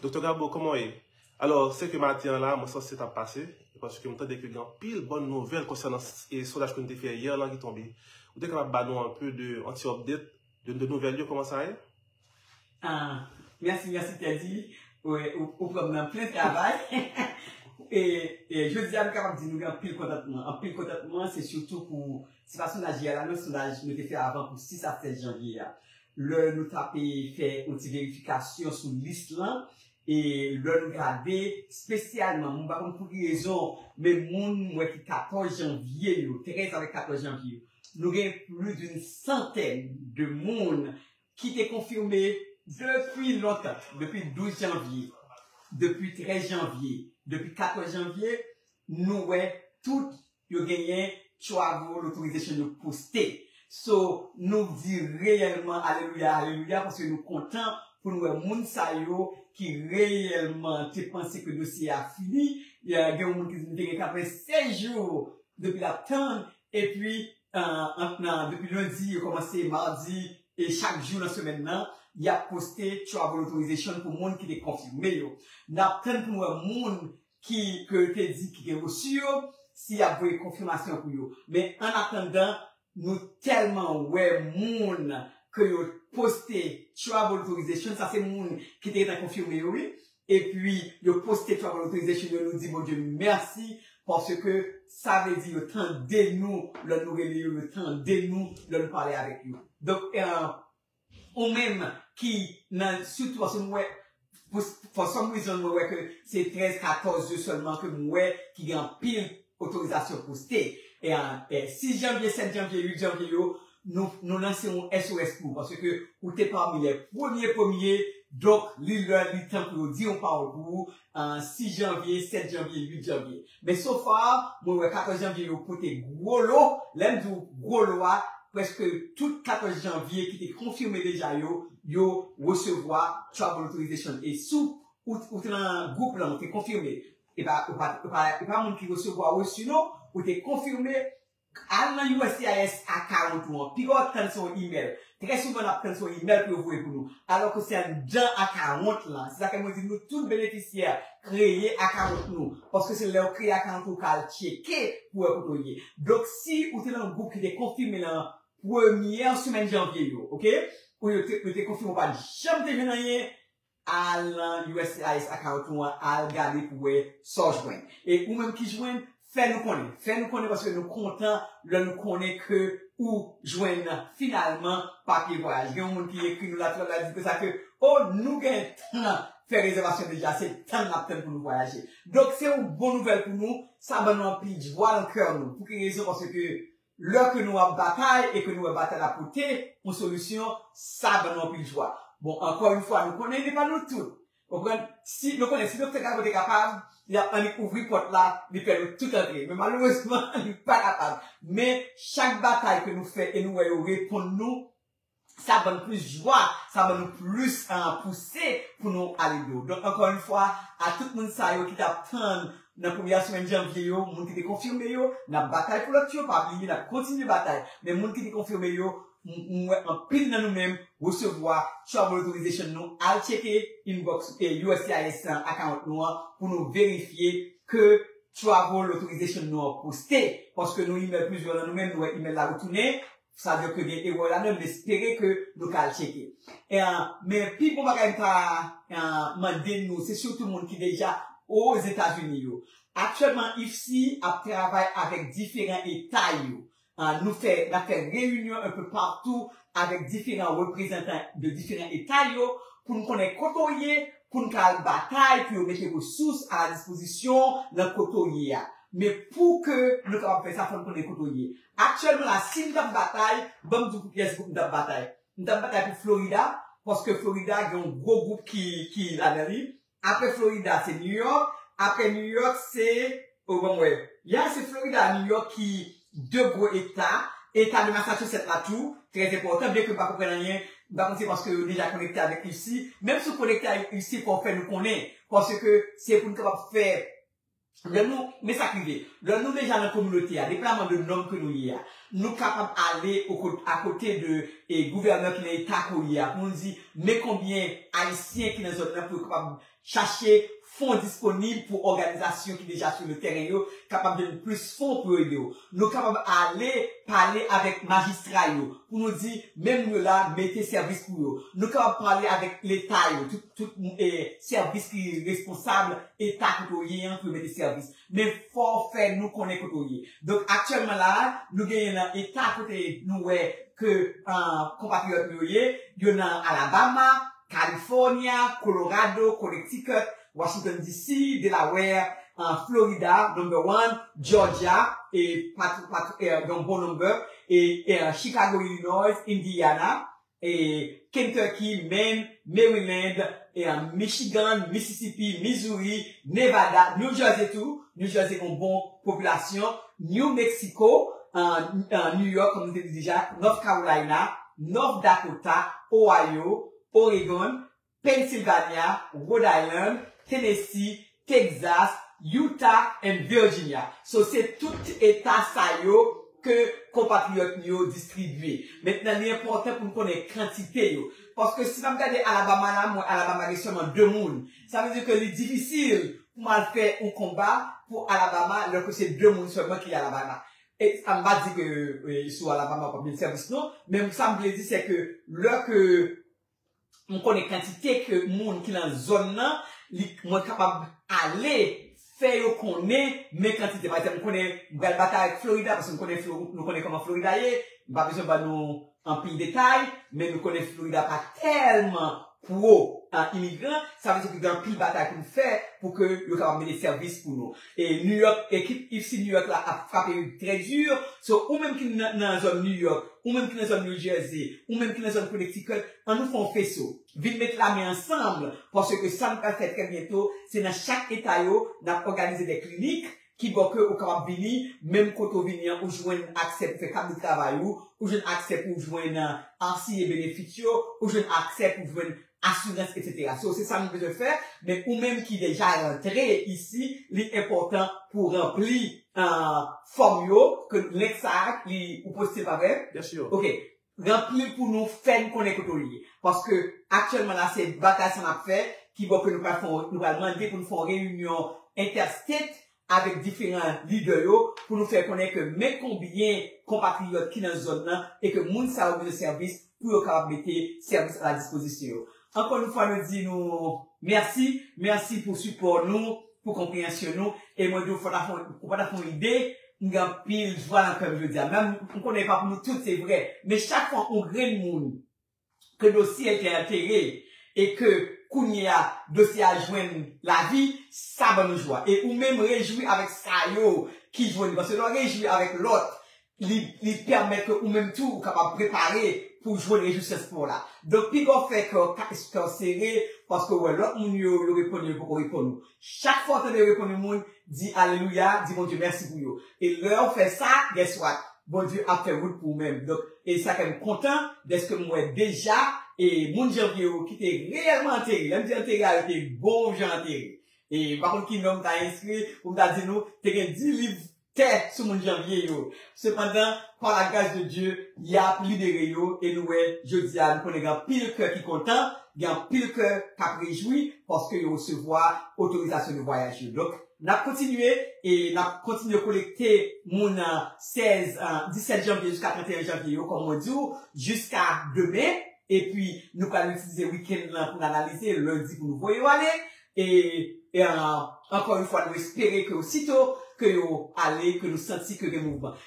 Doktè Gabo, kòman w ye? Alò, se ke maten an la, mwen sanse ta pase, e paske m tande ke gen anpil bòn nouvèl konsènan sondaj ke nou te fè yè lan ki tonbe. Ou te kapab ba nou anpe de, an ti update, de de nouvèl yo, kòman sa ye? Ah, mèsi, mèsi Teddy. Ou pran m nan plen travay. E, e jodi a m kapab di nou gen anpil kontantman. Anpil kontantman se sitou pou, se pa sondaj yè la non, sondaj nou te fè avan pou 6 a 7 janvye a. Lè nou t ape fè yon ti verifikasyon sou lis lan, e lè nou gade spesyalman, mwen pa konn pou ki rezon, men moun m wè ki 14 janvye yo, 13 avèk 14 janvye yo, nou gen plis doun santèn de moun ki te konfime depi lontan, depi 12 janvye, depi 13 janvye, depi 14 janvye, nou wè tout Yo genyen travel authorization yo poste. So nou k di reyèlman alelouya alelouya paske nou kontan pou n wè moun sa yo ki reyèlman te panse ke dosye a fini. Gen yon moun ki di m te gen 96 jou depi l ap tann epi ant nan depi lendi yo kòmanse madi e chak jou nan semèn nan y ap poste travel authorization pou moun ki te konfime yo. N ap tann pou n wè moun ki ke yo te di ki gen reçu yo si yap voye konfimasyon pou yo men an atandan nou telman wè moun ke yo poste travel authorization sa se moun ki te gentan konfime yo wi epi yo poste travel authorization yo nou di Bondye mèsi paske sa vle di yo tande nou lè nou rele yo yo tande nou lè nou pale avèk yo donk Ou menm ki nan sitou paske m wè for some reason mwen wè ke se 13 14 yo sèlman ke m wè ki gen anpil otorizasyon poste e 6 janvye 7 janvye 8 janvye yo nou lanse yon SOS pou ou paske ou te pami lè premye premye donk li lè li tan pou yo di yon pawòl pou ou 6 janvye, 7 janvye, 8 janvye. Men so far, mwen wè 14 janvye yo pote gwo lo. Lè m di w gwo lo a, prèske tout 14 janvye ki te konfime deja yo, yo resevwa travel authorization. E si ou te nan gwoup lan, ou te konfime, e pa moun ki resevwa reçu non, ou te konfime, Al nan uscis account ou an. Piga w ap tann se yon email. Trè souvan n ap tann se yon email pou yo voye pou nou. Alò ke se anndan account lan. Se sa fè mwen di nou tout benefisyè kreye account nou. Paske se lè ou kreye account ou ka al tcheke pou wè kote ou ye. Donk si ou te nan gwoup ki te konfime nan premyè semèn janvye yo, ok, ou yo te konfime ou pa janm te jwenn anyen, Al nan uscis account ou an al gade pou wè sa w jwenn. E ou menm ki jwenn, fè nou konnen. Fè nou konnen paske nou kontan lè nou konnen ke ou jwenn finalman papye vwayaj. Gen yon moun ki ekri nou la tout la di konsa ke oh nou gen tan fè rezèvasyon deja se tann nap tann pou nou vwayaje. Donk se yon bon nouvèl pou nou, sa ban nou anpil jwa nan kè nou. Pou ki rezon paske ke Lè ke nou ap batay e ke nou wè batay la pote yon solisyon, sa ban nou anpil jwa. Bon, ankò yon fwa, nou konnen li pa nou tout. Ou konprann? Si, nou konnen, si Doktè Caro te kapab, li tap annik ouvri pòt la, li fè nou tout antre. Men malerezman, li pa kapab. Men, chak batay ke nou fè e nou wè yo reponn nou, sa ban nou plis jwa, sa ban nou plis pouse pou nou ale de ou. Donk ankò yon fwa, a tout moun sa yo ki t ap tann nan premye semèn janvye yo, moun ki te konfime yo, n ap batay pou lòt yo, pa bliye n ap kontinye batay. Men moun ki te konfime yo, m wè anpil nan nou menm resevwa travel authorization nou, al tcheke inbox uscis lan, account nou an, pou nou verifye ke travel authorization nou an poste, paske nou imèl plizyè nan nou menm, nou wè imèl la retounen, Sa vle dire ke gen erè la dan, m espere ke nou ka al tcheke. Men pi bon bagay m ta mande nou, se sitou moun ki deja Ozetazini yo. Aktyèlman IFSI ap travay avèk diferan eta yo. Nou fè, n ap fè reyinyon un peu partout avèk diferan reprezantan de diferan eta yo pou n konnen kote w ye, pou n ka al batay pou yo mete resous a la dispozisyon w nan kote w ye a. Men pou ke nou kapab fè sa, fò n konnen kote w ye. Aktyèlman la si m tap batay, ban m di w pou kiyès gwoup m tap batay. M tap batay pou Florida, paske Florida gen yon gwo gwoup ki ki ladan li. Aprè Florida se New York, aprè New York se, oh ban m wè, ya se Florida a New York ki 2 gwo eta, eta de Massachusetts la tou trè enpòtan byenke m pa konprann anyen, m pa konn se paske yo deja konekte avèk UC, menm si w konekte avèk UC fò w fè nou konnen, paske se pou n kapab fè Lè nou, men sa k rive, lè nou deja nan kominote a, deplaman de nòm ke nou ye a, nou kapab ale oko, akote de e gouvènè ki nan eta ke w ye a pou nou di, men konbyen Ayisyen ki nan zòn nan pou yo kapab chache fon disponib pou òganizasyon ki deja sou le tèren yo kapab jwenn plis fon pou yo ede w. Nou kapab ale pale avèk majistra yo pou nou di, men moun yo la, mete sèvis pou yo. Nou kapab pale avèk leta yo, tout, tout e sèvis ki responsab eta kote w ye an pou yo mete sèvis men fò w fè nou konnen kote w ye donk aktyèlman la a nou genyen nan eta kote nou wè ke konpatriyòt nou yo ye yo nan Alabama California Colorado Connecticut Washington DC Delaware Florida number one Georgia e patou patou yon bon number e Chicago Illinois Indiana e Kentucky, Maine, Maryland, Michigan, Mississippi, Missouri, Nevada, New Jersey tou, New Jersey gen yon bon popilasyon, New Mexico, New York kòm nou te di deja, North Carolina, North Dakota, Ohio, Oregon, Pennsylvania, Rhode Island, Tennessee, Texas, Utah and Virginia. So se tout eta sa yo ke konpatriyòt nou yo distribye. Mentnan li enpòtan pou n konnen kantite yo. Paske si m ap gade Alabama la, m wè Alabama gen sèlman 2 moun. Sa vle di ke li difisil pou m al fè yon konba pou Alabama lò ke se 2 moun sèlman ki Alabama. E sa m pa di ke sou Alabama w p ap jwenn sèvis non. Men sa m vle di se ke lò ke M konnen kantite ke moun ki lan zòn nan li mwen kapab ale fè yo konnen men kantite pa egzanp m konnen m pral batay ak Florida paske m konnen flo nou konnen kòman Florida ye m pa bezwen ban nou anpil detay men nou konnen Florida pa tèlman pro imigran sa vle di ke gen anpil batay pou nou fè pou ke yo kapab mete sèvis pou nou. E New York ekip FC New York la ap frape wi trè dur so ou menm ki nan zòn New York ou menm ki nan zòn New Jersey ou menm ki nan zòn Connecticut an nou fè yon feso vin met lamen ansanm paske sa nou pral fè trè byento se nan chak eta yo nap òganize de klinik ki bò ke ou kapab vini menm kote ou vini an ou jwenn aksè pou fè kat de travay ou ou jwenn aksè pou jwenn RCA benefits yo ou jwenn aksè pou jwenn asirans etc. So se sa nou bezwen fè men ou menm ki deja rantre isi li enpòtan pou ranpli fòm yo ke link sa li ou postil pa vre? Yes sure. Ok ranplil pou nou fèn konnen kote ou ye paske aktyèlman la se batay sa nap fè ki bò ke nou pral fon nou pral mande pou nou fon reyinyon interstate avèk diferan lidè yo pou nou fè konnen ke men konbyen konpatriyòt ki nan zòn nan e ke moun sa yo bezwen sèvis pou yo kapab mete sèvis a la dispozisyon yo. Ankò yon fwa nou di nou mèsi, mèsi pou sipò nou, pou konpreyansyon nou e mwen di w fòtafè ou pa ta fè yon ide, m gen anpil jwa nan kè m jodi a. Menm m konnen e pa pou nou tout se vre, men chak fwa yon grenn moun ke dosye te antere e ke kounye a dosye a jwenn lavi, sa ban nou jwa. E ou menm rejwi avèk sa yo ki jwenn li. Paske lè w rejwi avèk lòt, li, li pèmèt ke ou menm tou ou kapab prepare pou w jwenn rejwisans pa w la. Donk, pinga w fè kè w, kè w sere paske w wè lòt moun yo, yo reponn e yo poko reponn ou. Chak fwa w tande reponn yon moun, di alelouya, di Bondye mèsi pou yo. E lè w fè sa, guess what? Bondye ap fè wout pou ou menm. Donk, e sa fè m kontan dèske m wè deja e moun Janvye yo ki te reyèlman antere, lè m di antere a yo te bon jan antere. E m pa konn ki non m ta enskri pou m ta di nou te gen di liv tè sou moun Janvier yo. Sepandan, pa la gras de Dye, y ap libere yo e nou wè jodi a nou konnen gen anpil kè ki kontan, gen anpil kè k ap rejwi paske yo resevwa otorizasyon de vwayaj yo. Donk, n ap kontinye e n ap kontinye kolekte moun 16, 17 janvye jiska 31 janvye yo, kòm mwen di w, jiska demen. Epi, nou pral itilize wikenn lan pou n analize, lendi pou nou voye yo ale. E ankò yon fwa nou espere ke osito ke yo ale ke nou santi ke gen mouvman.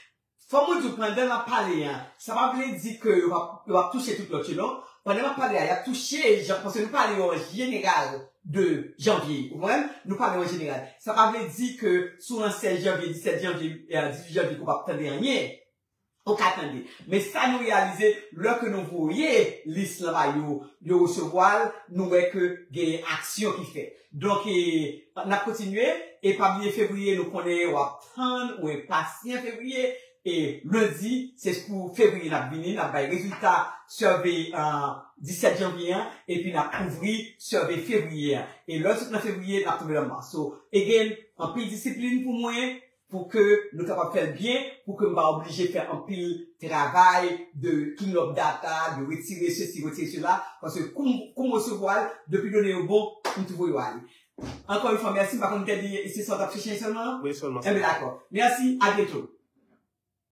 Fò mwen diw pandan nap pale an, sa pa vle di ke yo pap touche tout lòt yo non. Pandan nap pale a yap touche jan paske nou pale yo an jeneral de janvye ou konprann? Nou pale yo an jeneral. Sa pa vle di ke sou an 16 janvye, 17 janvye, 18 janvye ke w pap tande anyen. Ok tande. Men sa nou reyalize lè ke nou voye lis lan ba yo, yo resevwa l, nou wè ke gen aksyon ki fèt. Donk e n ap kontinye e pa bliye fevriye nou konnen w ap tann ou enpasyan fevriye e lendi se pou fevriye n ap vini n ap bay rezilta sève 17 janvye an epi n ap ouvri sève fevriye an e lè w sot nan fevriye n ap tonbe nan mas. So again anpil disiplin pou mwen Pou ke nou kapab fèl byen, pou ke m pa oblije fè anpil travay de clean up data, de retire sesi, retire sela, paske kou m kou m resevwa l, depi done yo bon, m tou voye yo ale. Ankò yon fwa mèsi, m pa konn m te di se sa w t ap chèche sèlman? Wi sèlman sa. Enben dakò. Mèsi, abyento.